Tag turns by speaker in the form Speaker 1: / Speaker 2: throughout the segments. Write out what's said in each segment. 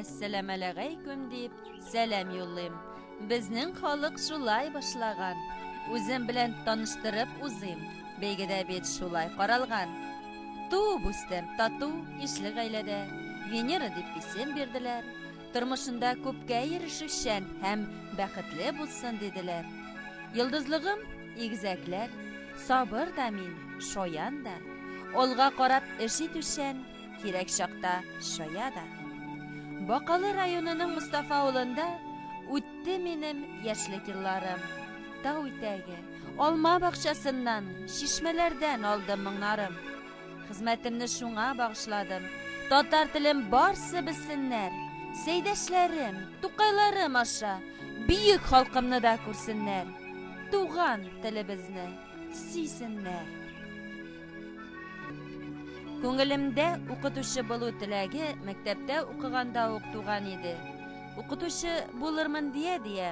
Speaker 1: Әссәламәләгәйкүм дип сәлам юллыйм. Безнең халык шулай башлаган. Үзем белән таныштырып узыйм. Бәйгедә бит шулай каралган. Туып үстем тату ишле гаиләдә. Венера дип исем бирделәр. Тормышында күпкә ирешүчән һәм бәхетле булсын диделәр. Йолдызлыгым, игезәкләр, сабыр да мин, шаян да. Алга карап эш итүчән, кирәк чакта шая да. Бакалы районының Мустафа авылында үтте минем яшьлек елларым. Тау итәге, алма бакчасыннан, чишмәләрдән алдым моңнарым. Хезмәтемне шуңа багышладым. Татар телем барсы белсеннәр. Сәйдәшләрем, тукайларым аша бөек халкымны да күрсеннәр. Туган телебезне сөйсеннәр. Күңелемдә укытучы булу теләге мәктәптә укыганда ук туган иде. Укытучы булырмын дия-дия,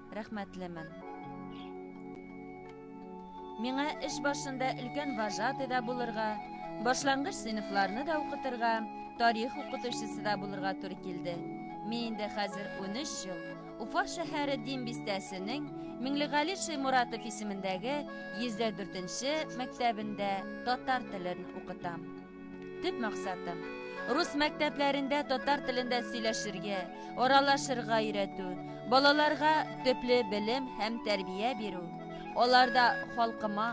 Speaker 1: Рәхмәтлемен. Миңа эш башында өлкән вожатый да булырга, башлангыч сыйныфларны да укытырга, тарих укытучысы да булырга туры килде. Мин инде хәзер 13 ел Уфа шәһәре Дин бистәсенең Миңлегали Шәймуратов исемендәге 104 нче мәктәбендә татар телен укытам. Төп максатым рус мәктәпләрендә татар телендә сөйләшергә, аралашырга өйрәтү, балаларга төпле белем һәм тәрбия бирү, аларда халкыма,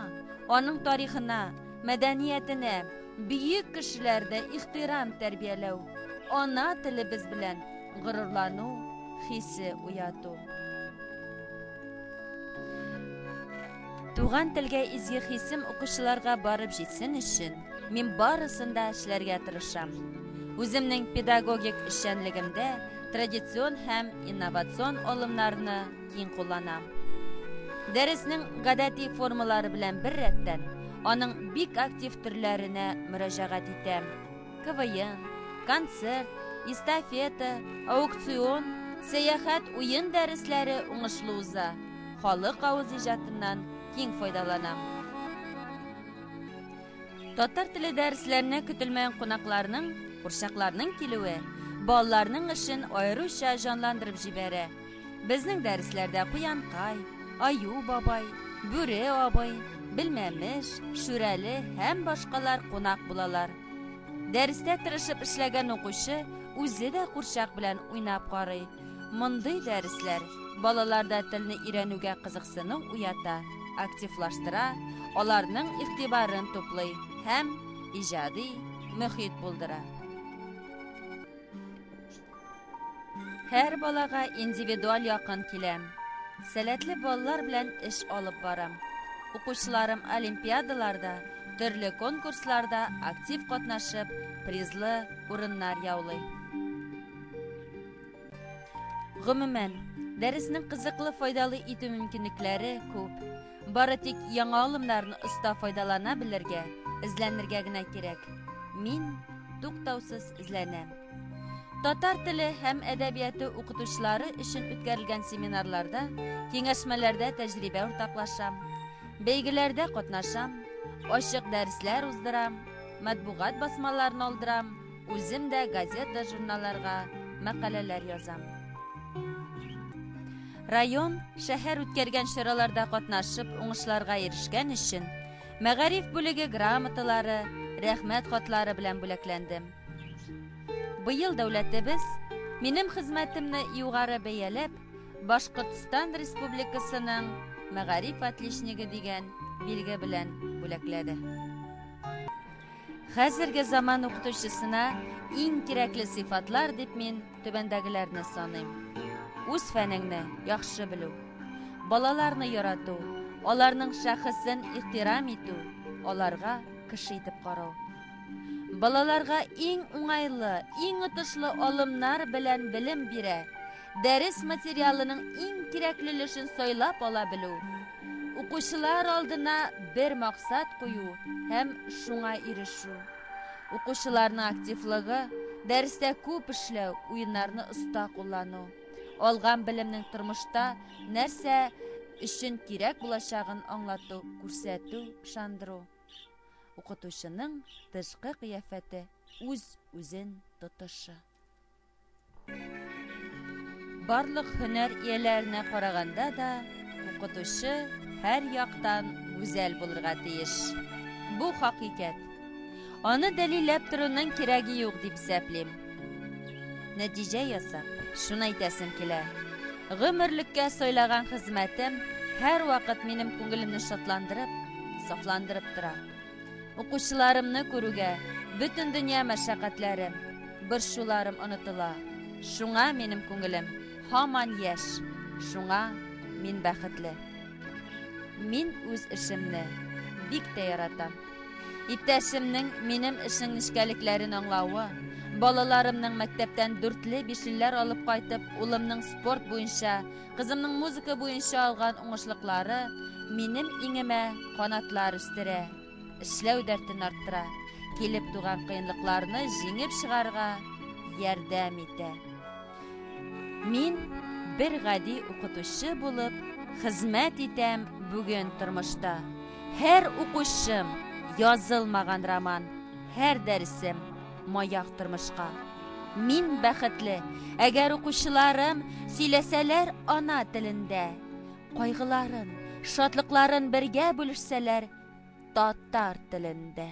Speaker 1: аның тарихына, мәдәниятенә, бөек кешеләрдә ихтирам тәрбияләү, ана телебез белән горурлану хисе уяту. Туган телгә изге хисем укучыларга барып җитсен өчен, мин барысын да эшләргә тырышам. Үземнең педагогик эшчәнлегемдә традицион һәм инновацион алымнарны киң кулланам. Дәреснең гадәти формалары белән беррәттән, аның бик актив төрләренә мөрәҗәгать итәм. КВН, концерт, эстафета, аукцион, сәяхәт, уен дәресләре уңышлы уза. Халык авыз иҗатыннан киң файдаланам. Татар теле дәресләренә көтелмәгән кунакларның, курчакларның килүе балаларның эшен аеруча җанландырып җибәрә. Безнең дәресләрдә Куянкай, Аю бабай, Бүре абый, Белмәмеш, Шүрәле һәм башкалар кунак булалар. Дәрестә тырышып эшләгән укучы үзе дә курчак белән уйнап карый. Мондый дәресләр балаларда телне өйрәнүгә кызыксыну уята, активлаштыра, аларның игътибарын туплый һәм иҗади мөхит булдыра. Һәр балага индивидуаль якын киләм. Сәләтле балалар белән эш алып барам. Укучыларым олимпиадаларда, төрле конкурсларда актив катнашып, призлы урыннар яулый. Гомумән, дәресне кызыклы файдалы итү мөмкинлекләре күп. Бары тик яңа алымнарны оста файдалана белергә, эзләнергә генә кирәк. Мин туктаусыз эзләнәм. Татар теле һәм әдәбияты укытучылары өчен үткәрелгән семинарларда, киңәшмәләрдә тәҗрибә уртаклашам, бәйгеләрдә катнашам, ачык дәресләр уздырам, матбугат басмаларын алдырам, үзем дә газета-журналларга мәкаләләр язам. Район, шәһәр үткәргән чараларда катнашып, уңышларга ирешкән өчен мәгариф бүлеге грамоталары, рәхмәт хатлары белән бүләкләнде. Быел дәүләтебез минем хезмәтемне югары бәяләп, Башкортстан Республикасының мәгариф отличнигы дигән билге белән бүләкләде. Хәзерге заман укытучысына иң кирәкле сыйфатлар дип мин Түбәндәгеләрне саныйм. Үз фәнеңне яхшы белү, балаларны ярату, аларның шәхесен ихтирам итү, аларга кеше итеп карау. Балаларга иң уңайлы, иң отышлы алымнар белән белем бирә, дәрес материалының иң кирәкле өлешен сайлап ала белү, укучылар алдына бер максат кую һәм шуңа ирешү. Укучыларның активлыгы, дәрестә күп эшләү, уеннарны оста куллану, алган белемнең тормышта нәрсә өчен кирәк булачагын аңлату, күрсәтү, ышандыру. Укытучының тышкы кыяфәте, үз-үзен тотышы. Барлык һөнәр ияләренә караганда да укытучы һәр яктан гүзәл булырга тиеш. Бу хакыйкәт. Аны дәлилләп торуның кирәге юк дип исәплим. Нәтиҗә ясап, шуны әйтәсем килә. Гомерлеккә сайлаган хезмәтем һәрвакыт минем күңелемне шатландырып, сафландырып тора. Укучыларымны күрүгә, бөтен дөнья мәшәкатьләрем, борчуларым онытыла. Шуңа минем күңелем һаман яшь, шуңа мин бәхетле. Мин үз эшемне бик тә яратам. Иптәшемнең минем эшнең нечкәлекләрен аңлавы, балаларымның мәктәптән дүртле-бишлеләр алып кайтып, улымның спорт буенча Кызымның музыка буенча алган уңышлыклары минем иңемә канатлар үстерә, эшләү дәртен арттыра, килеп туган кыенлыкларны җиңеп чыгарга ярдәм итә. Мин бер гади укытучы булып хезмәт итәм бүген тормышта. Һәр укучым язылмаган роман, һәр дәресем Маяк тормышка. Мин бәхетле, әгәр укучыларым сөйләсәләр ана телендә, кайгыларын, шатлыкларын бергә бүлешсәләр татар телендә.